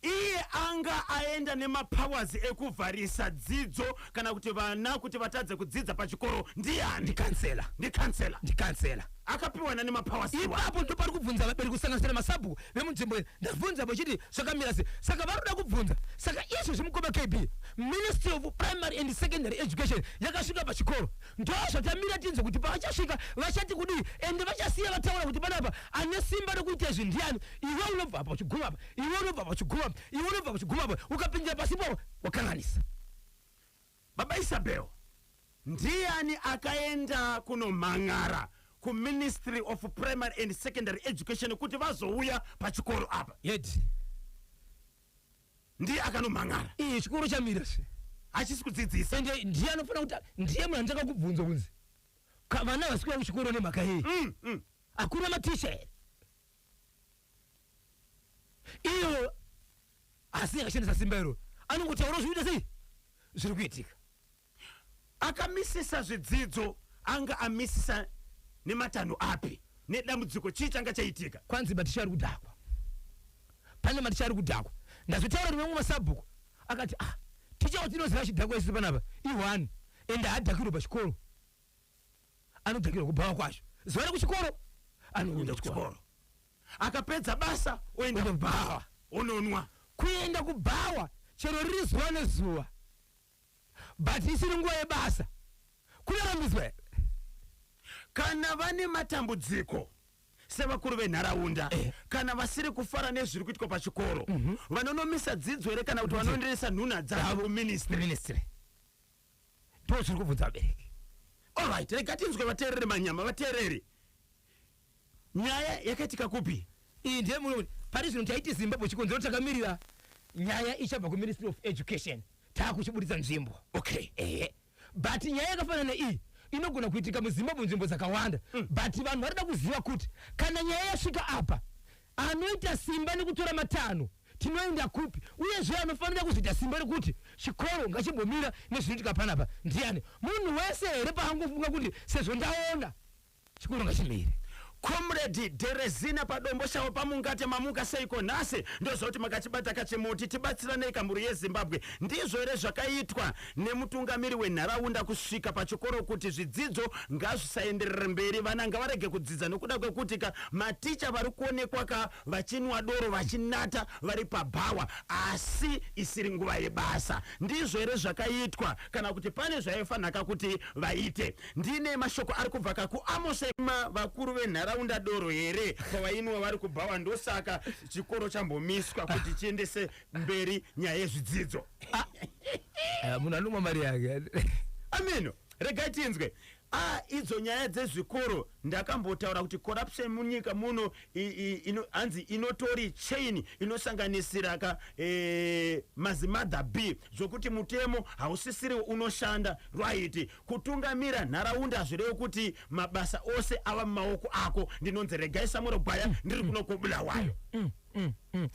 Iye anga aenda nemapowers ekuvharisa dzidzo kana kuti vana kuti vatadze kudzidza pachikoro ndiani? Ndikansela. Ndikansela. Ndikansela. Akapiwa nani mapowers iwayo? Ipapo ndipo pari kubvunza vabereki kusanganisira nemasabhuku vemunzvimbo iyi. Ndabvunza vachiti zvakamira sei? Saka vari kuda kubvunza. Saka izvozvi mukoma KB, Ministry of Primary and Secondary Education yakasvika pachikoro. Ndozvatamira tinzwe kuti pavachasvika vachati kudii ende vachasiya vataura kuti panapa ane simba rekuita izvi ndiani. Iwe unobva apa uchiguma apa iwe unobva pachiguma iwe unobva pachiguma apa ukapindira pasi ipapo wakanganisa baba isabel ndiani akaenda kunomhan'ara kuministry of primary and secondary education kuti vazouya pachikoro apa yet ndiye akanomhan'ara iyi chikoro chamira se hachisi kudzidzisa ende ndiye anofanira kuti ndiye munhu anditanga kubvunza kunzi ka- vana vasikuya kuchikoro nemhaka yei Mm, mm. hakuna maticha here iyo asi akashandisa simba iro anongotaura zvoita sei zviri kuitika akamisisa zvidzidzo anga amisisa nematanho api nedambudziko chii changa chaitika kwanzi maticha ari kudhakwa pane maticha ari kudhakwa ndazotaura rimwe mwe masabhuku akati ah ticha watinoziva chidhakwa isu panapa ihwani ende hadhakirwe pachikoro anodhakirwa kubhawa kwacho zuva rekuchikoro anoenda kuchikoro akapedza basa oenda kubhawa ononwa kuenda kubhawa chero riri zuva nezuva but isiri nguva yebasa kunorambidzwa here kana vane matambudziko sevakuru venharaunda eh. kana vasiri kufara nezviri kuitwa pachikoro mm -hmm. vanonomisa dzidzo here kana kuti vanoenderesa nhunha dzavo kuministry ndoo chiri kubvunza vabereki olright rega tinzwe vateerere manyama vateerere nyaya yakaitika kupi iyi ndiye muno pari zvino taiti zimbabwe chikonzero takamirira nyaya ichabva kuministry of education taakuchiburitsa nzvimbo okay ehe but nyaya yakafanana iyi inogona kuitika muzimbabwe nzvimbo dzakawanda mm. but vanhu varida kuziva kuti kana nyaya yasvika apa anoita simba nekutora matanho tinoenda kupi uyezve anofanira kuzoita simba rekuti chikoro ngachimbomira nezvinoitika panapa ndiani munhu wese here paangofunga kuti sezvo ndaona chikoro ngachimire Comrade Derezina padomboshawo pamungate mamuka seiko nhasi ndozoti makachibata kachimuti tibatsiranei kamhuri yeZimbabwe ndizvo here zvakaitwa nemutungamiri wenharaunda kusvika pachikoro kuti zvidzidzo ngazvisaenderere mberi vana ngavarege kudzidza nokuda kwekuti ka maticha vari kuonekwa ka vachinwa doro vachinata vari pabhawa asi isiri nguva yebasa. Ndizvo here zvakaitwa kana kuti pane zvaifanhaka kuti vaite? Ndine mashoko ari kubvaka kuAmose. Ma, vakuru venharaunda doro here kwavainwa vari kubhawa ndosaka chikoro chambomiswa kuti chiendese mberi nyaya yezvidzidzo? Ah, munhu anomwa mari yake. Ameno, regai tinzwe. Ah idzo nyaya dzezvikoro ndakambotaura kuti corruption munyika muno ino, hanzi inotori chain inosanganisira ka e, mazimother b zvokuti mutemo hausisiriwo unoshanda right kutungamira nharaunda hazvirevi kuti mabasa ose ava mumaoko ako ndinonzi regai samuro gwaya mm, ndiri mm. kuno kobulawayo mm, mm, mm.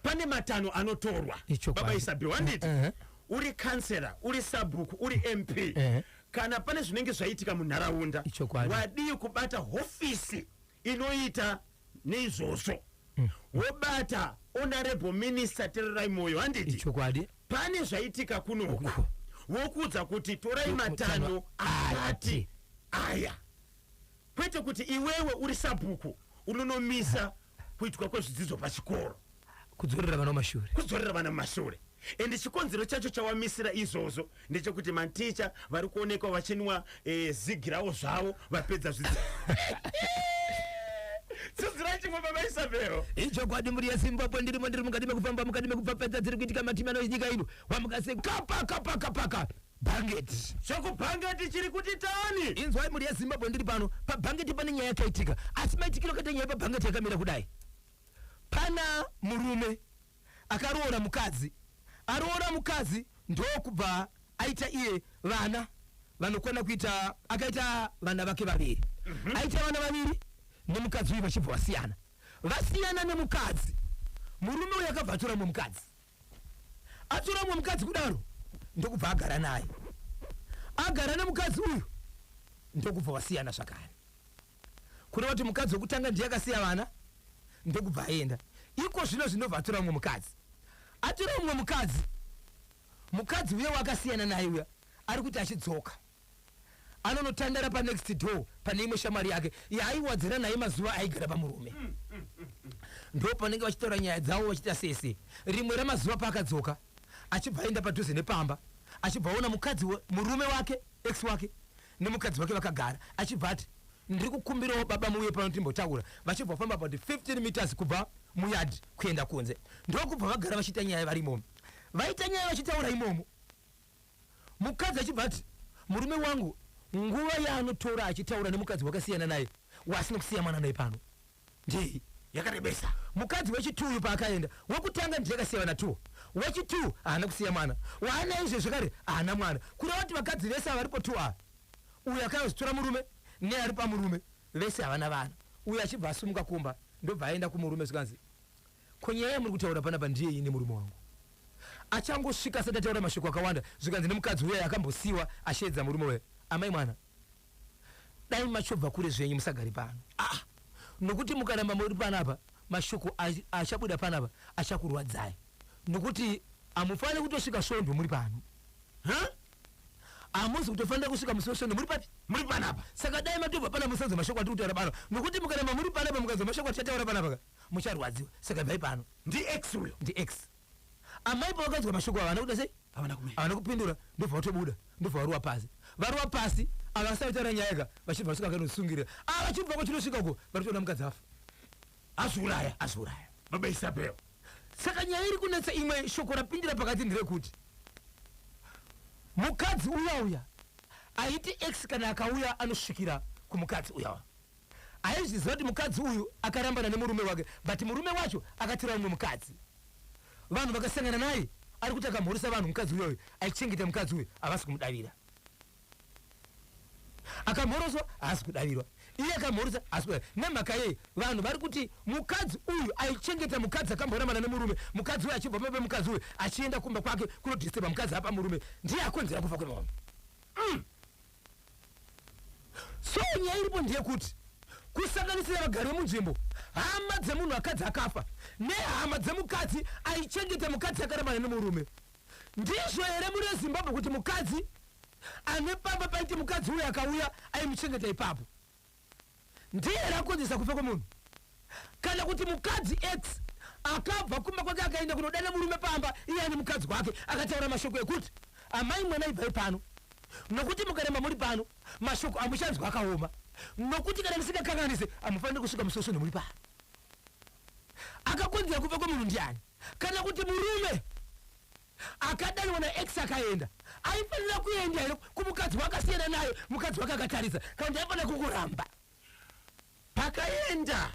pane matanho anotorwa baba isabi wanditi uh -huh. uri kansera uri sabhuku uri mp uh -huh. Kana pane zvinenge zvaitika munharaunda, wadii kubata hofisi inoita neizvozvo mm. wobata honorable minister tererai moyo handiti chokwadi pane zvaitika kunoku wokuudza kuti torai matano akati aya kwete kuti iwewe uri sabhuku unonomisa kuitwa kwezvidzidzo pachikoro kudzorera vana mumashure kudzorera vana mumashure and chikonzero chacho chawamisira izvozvo ndechekuti maticha vari kuonekwa vachinwa eh, zigi ravo zvavo vapedza zvidzidzo dzidzira chimwe baba isabhero ichokwadi mhuri yezimbabwe ndirimo ndiri mukati mekufamba mukati mekupfapfadza dziri kuitika matimi anoinyika ino wamukase kapaka pakapaka Bhangeti. Shoko bhangeti chiri kuti tani. Inzwai mhuri yeZimbabwe ndiri pano. Pabhangeti pane nyaya yakaitika. Asi maitikiro akaita nyaya pabhangeti yakamira kudai. Pana murume akaroora mukadzi. Aroora mukadzi ndokubva aita iye vana vanokwana kuita akaita vana vake vaviri. Mhm. Aita vana vaviri nemukadzi uyu vachibva vasiyana. Vasiyana nemukadzi. Murume uyu akabva atora mumwe mukadzi. atora umwe mukadzi kudaro ndokubva agara naye agara nemukadzi uyu ndokubva wasiyana zvakare kureva kuti mukadzi wekutanga ndiye akasiya vana ndokubva aenda iko zvino zvinobva atora umwe mukadzi atora umwe mukadzi mukadzi uye wakasiyana naye uya ari kuti achidzoka anonotandara panext door pane imwe shamwari yake yaaiwadzana naye mazuva aigara pamurume mm, mm, mm, ndo panenge vachitaura nyaya dzavo vachita sese rimwe ramazuva paakadzoka achibva aenda padhuze nepamba achibva aona mukadzi murume wake ex wake nemukadzi wake vakagara achibva ati ndiri kukumbirawo baba muuye pano timbotaura vachibva famba about 15 meters kubva muyard kuenda kunze ndokubva vagara vachiita nyaya vari imomo vaita nyaya vachitaura imomo mukadzi achibva ati murume wangu nguva yaanotora achitaura nemukadzi wakasiyana naye wasina kusiya mwana naye pano ndei yakarebesa mukadzi wechitu uyu paakaenda wekutanga ndiye akasiya vana two wechitu haana kusiya mwana waanaye izvezvi kare haana mwana kureva kuti vakadzi vese avaripo two ava uyu akayozitora murume neari pamurume vese havana vana uyu achibva asumuka kumba ndobva aenda kumurume zvikanzi Ko nyaya yamuri kutaura panapa ndeyei nemurume wangu? Achangosvika asati ataura mashoko akawanda zvikanzi nemukadzi uya akambosiiwa asheedza murume we amai mwana dai machobva kure zvenyu musagare pano ah nokuti mukaramba muri panapa mashoko achabuda panapa achakurwadzai nokuti hamufanire kutosvika svondo muri pano huh? hamusi kutofanira kusvika musi wesvondo muri papi muri panapa saka dai matobva panapa musanzwa mashoko atiri kutaura pano nokuti mukaramba muri panapa mukanzwa mashoko atichataura panapa ka mucharwadziwa saka ibvai pano ndiex uyo ndiex amai pavakanzwa mashoko ava vana kuda sei havana kupindura ndobva vatobuda ndobva varuwa pasi varuwa pasi ava vasati taura nyaya ka vachibva vasvika vakanosungirira ava ah, vachibva kwachinosvika uko varitoona mukadzi afa azviuraya azviuraya baba isabel saka nyaya iri kunetsa imwe shoko rapindira pakati ndirekuti mukadzi uya uya aiti ex kana akauya anosvikira kumukadzi uyawa Aizviziva kuti mukadzi uyu akarambana nemurume wake but murume wacho akatora umwe mukadzi. Vanhu vakasangana naye ari kuti akamhoresa vanhu mukadzi uyoyo aichengeta mukadzi uyu havasi kumudavira. Akamhoroswa haasi kudavirwa. Iye akamhoresa haasi kudavirwa. Nemhaka yei vanhu vari kuti mukadzi uyu aichengeta mukadzi akamborambana nemurume mukadzi uyu achibva pamba pemukadzi uyu achienda kumba kwake kunodisturba mukadzi apa murume ndiye akonzera kufa kwemurume. Mm. So nyaya iripo ndeyekuti kusanganisira vagari vemunzvimbo, hama dzemunhu akadzi akafa nehama dzemukadzi aichengeta mukadzi akarambana nemurume. Ndizvo here muri veZimbabwe kuti mukadzi ane pamba paite mukadzi uyo akauya aimuchengeta ipapo? ndiye here akonzeresa kufa kwemunhu kana kuti mukadzi x akabva kumba kwake akaenda kunodana murume pamba iye ane mukadzi wake akataura mashoko ekuti amai mwana ibvai pano nokuti mukaramba muri pano mashoko amuchanzwa akaoma nokuti kana ndisingakanganise amufanire kusvika musoso nemuri pano akakonzera kufa kwemunhu ndiani kana kuti murume akadanwa naex akaenda aifanira kuenda here kumukadzi wakasiyana naye mukadzi wake akatarisa kana kuti aifanira kungoramba pakaenda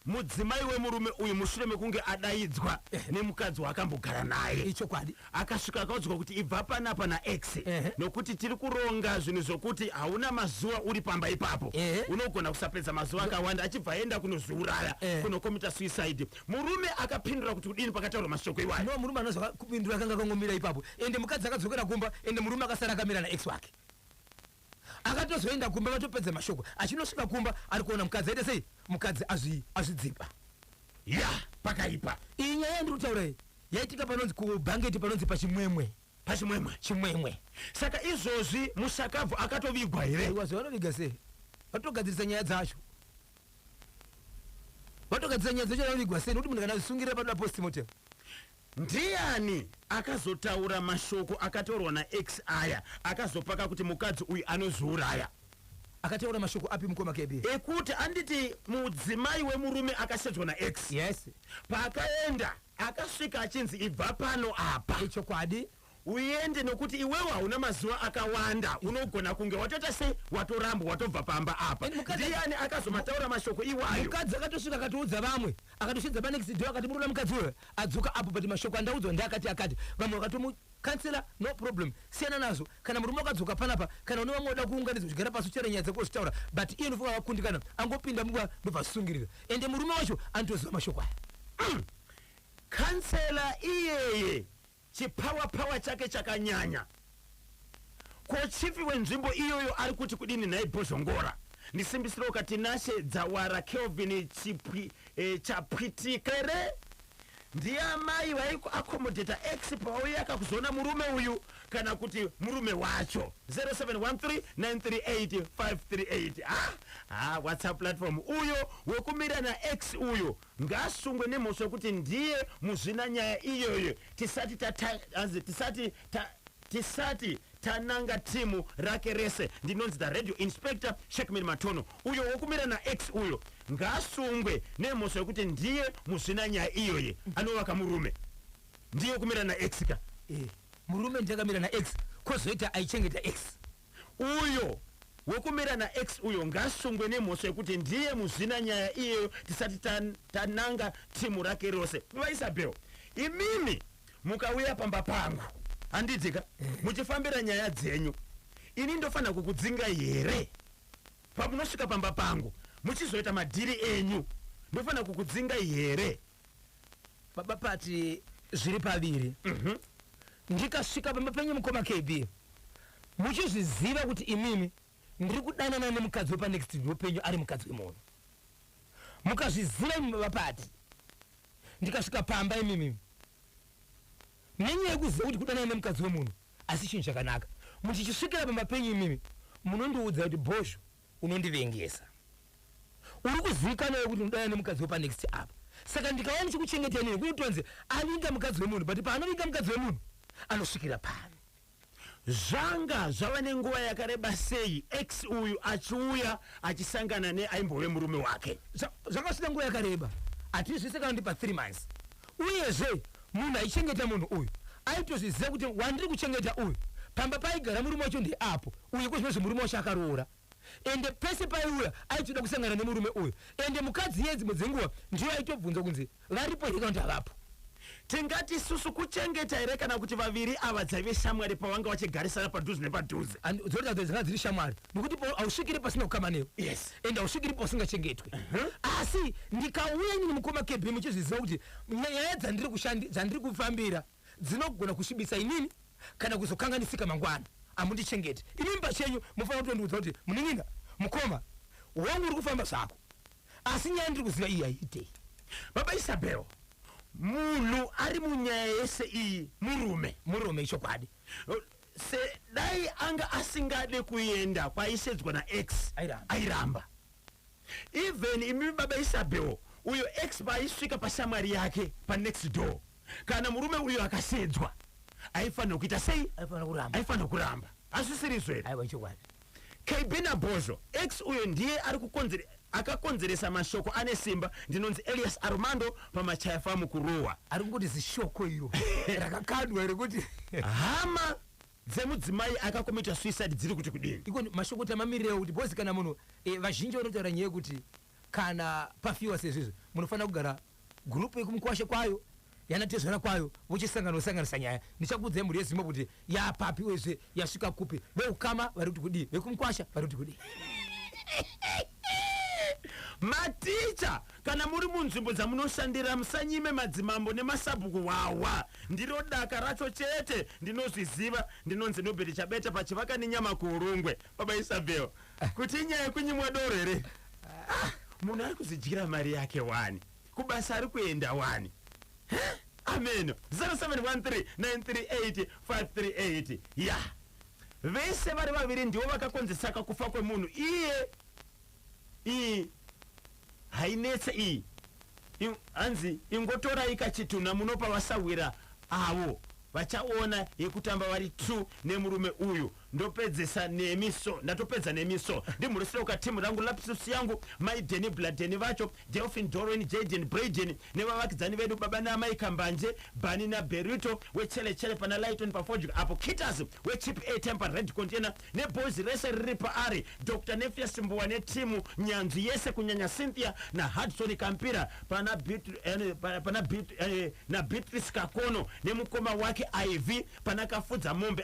mudzimai wemurume uyu mushure mekunge adaidzwa nemukadzi waakambogara naye ichokwadi akasvika akaudzwa kuti ibva panapa naex Ehe. nokuti tiri kuronga zvinhu zvokuti hauna mazuva uri pamba ipapo Ehe. unogona kusapedza mazuva akawanda achibva aenda kunozviuraya Ehe. kunokomita suicide Murume akapindura kuti kudini pakataurwa mashoko iwayo? No, murume ana zvakapindura akanga akangomira ipapo ende mukadzi akadzokera kumba ende murume akasara akamira naex wake. Akatozoenda kumba vatopedza mashoko. Achinosvika kumba ari kuona mukadzi aita sei? Mukadzi azvi azvidzipa. Ya, pakaipa. Iyi nyaya yandiri kutaura iyi yaitika panonzi kubhangeti panonzi pachimwemwe. Pachimwemwe? Chimwemwe. Saka izvozvi mushakabvu akatovigwa here? Aiwa, zvavanoviga sei? Vatogadzirisa nyaya dzacho. vatogadzira nyaya dzechana unigwa sei nokuti munhu kana zvisungirira panoda postmortem Ndiani akazotaura mashoko akataurwa naEx aya akazopaka kuti mukadzi uyu anozviuraya? akataura mashoko api mukoma kb Ekuti anditi mudzimai wemurume akashedzwa naEx. yes Paakaenda akasvika achinzi ibva pano apa. ichokwadi Uende nokuti iwewe hauna mazuva akawanda unogona kunge watoita sei watorambwa watobva pamba apa. And mukadzi- Ndiani akazomataura mashoko iwayo? mukadzi akatosvika akatoudza vamwe akatosvitsa panext door akati murikuda mukadzi uyo adzoka apo but mashoko andaudzwa ndeakati akati vamwe vakatomu kansela no problem siyana nazvo kana murume akadzoka panapa kana une vamwe unoda kuunganidzwa zvigara pasi uchitaura nyaya dzako uchitaura but iye ndofunga vakundikana angopinda mumba ndobvasungirira ende murume wacho anotoziva mashoko aya Kansela iyeye Chipower power chake chakanyanya. Ko chief wenzvimbo iyoyo ari kuti kudini nhai Bhozhongora? Ndisimbisirewoka Tinashe Dzawara Kelvin Chipwi eh, Chapwitika here? Ndiye amai vaiku accommodata ex pauyaka kuzoona murume uyu kana kuti murume wacho 0713938538 ah, ah, whatsapp platform uyo wekumira naex uyo Ngaasungwe nemhosva yekuti ndiye muzvina nyaya iyoyo tisati tata hanzi tisati ta tisati tananga team rake rese ndinonzi the radio inspector Shackman Matono uyo wekumira na ex uyo ngaasungwe nemhosva yekuti ndiye muzvina nyaya iyoyo anovaka murume ndiye kumira na ex ka Eh, murume ndiye akamira na ex kozoita aichengeta ex Uyo wekumira na ex uyo ngasungwe nemhosva yekuti ndiye muzvina nyaya iyeyo tisati tan, tananga team rake rose. VaIsabel imimi mukauya pamba pangu handitika muchifambira nyaya dzenyu ini ndofanira kukudzingai here? Pamunosvika pamba pangu muchizoita madhiri enyu ndofanira kukudzingai here? baba pati zviri paviri mhm. ndikasvika pamba penyu mukoma kb muchizviziva kuti imimi ndiri kudanana nemukadzi wepanext door penyu ari mukadzi wemunhu mukazviziva imimi baba pati ndikasvika pamba imimi nenyaya yekuziva kuti kudanana nemukadzi wemunhu asi chinhu chakanaka muchichisvikira pamba penyu imimi munondiudza kuti bhozho Unondivengesa. Uri kuzivikanavo kuti unodana nemukadzi wepanext apa. Saka ndikauya ndichikuchengetai neni kunotonzi avinga mukadzi wemunhu but paanovinga mukadzi wemunhu anosvikira pari. Zvanga zvava nenguva yakareba sei ex uyu achiuya achisangana neaimbove murume wake? Zvakasvika nguva yakareba at least zvese kana kuti pathree months. Uyezve, munhu aichengeta munhu uyu aitozviziva kuti wandiri kuchengeta uyu, pamba paaigara murume wacho ndeapo, uye kozvinozve murume wacho akaroora ende pese paaiuya aitoda kusangana nemurume uyu ende mukadzi iyeye dzimwe dzenguva ndiyo aitobvunza kunzi varipo here kana kuti havapo. Tingati isusu kuchengeta here kana kuti vaviri ava dzaive shamwari pavanga vachigarisana padhuze nepadhuze? And dzorega dzanga dziri shamwari nokuti po- hausvikire pasina kukama newe. Yes. and hausviki ripo usingachengetwe asi ndikauya nyini mukoma kb muchizviziva kuti nyaya dzandiri kushandi dzandiri kufambira dzinogona kusvibisa inini kana kuzokanganisika mangwana amundichengete imimi pachenyu mufanira kutondiudza kuti munin'ina mukoma wangu uri kufamba zvako asi nyaya ndiri kuziva iyi haiitei baba isabel munhu ari munyaya yese iyi murume murume ichokwadi Se dai anga asingade kuenda kwaisedzwa na X Airamba. airamba. Even imi baba Isabel uyo X paaisvika pashamwari yake pa next door kana murume uyo akasedzwa aifanira kuita sei? Aifanira kuramba. Aifanira kuramba. Hazvisiri izvo here? Aiwa ichokwadi. KB Nabhozho, ex uyo ndiye ari kukonzere, akakonzeresa mashoko ane simba ndinonzi Elias Armando pamachaya famu kurohwa. Ari kungoti zishoko iro rakakandwa iro kuti Hama dzemudzimai akakomita suicide dziri kuti kudini? iko mashoko kuti amamirireo kuti bhozi kana munhu eh, vazhinji vanotaura nyaya yekuti Kana pafiwa sezvizvi munofanira kugara group yekumukwasha kwayo yana tezvara kwayo vochisangana vosanganisa nyaya ndichakuudzai mhuri yeZimbo kuti yapapi uyezve yasvika kupi veukama vari kuti kudii vekumukwasha vari kuti kudii. Maticha kana muri munzvimbo dzamunoshandira musanyime madzimambo nemasabhuku hwahwa ndiro daka racho chete ndinozviziva ndinonzi Nobert Chabeta paChivakaninyama kuHurungwe baba Isabel kuti inyaya yekunyimwa doro here ah, munhu ari kuzidyira mari yake wani kubasa ari kuenda wani ameno 0713938538 ya vese vari vaviri ndivo vakakonzesaka kufa kwemunhu iye ii hainetse iyi In, hanzi ingotorai kachitunha munopa vasahwira avo vachaona yekutamba vari two nemurume uyu ndopedzesa nemi so ndatopedza nemi so ndimhurisire uka team rangu lapsus yangu mai deni bladeni vacho delphin dorwen jaden braden nevavakidzani vedu baba naamai kambanje bani naberito wechelechele pana lighton pafodya apo kitas wechip a temper red container neboys rese riri paari Doctor Nefia Simbuwa netimu nyanzvi yese kunyanya Cynthia naHudson Kampira pana Beat, eh, pa- pana Beat, eh, naBeatrice Kakono nemukoma wake Ivy pana Kafudza Mombe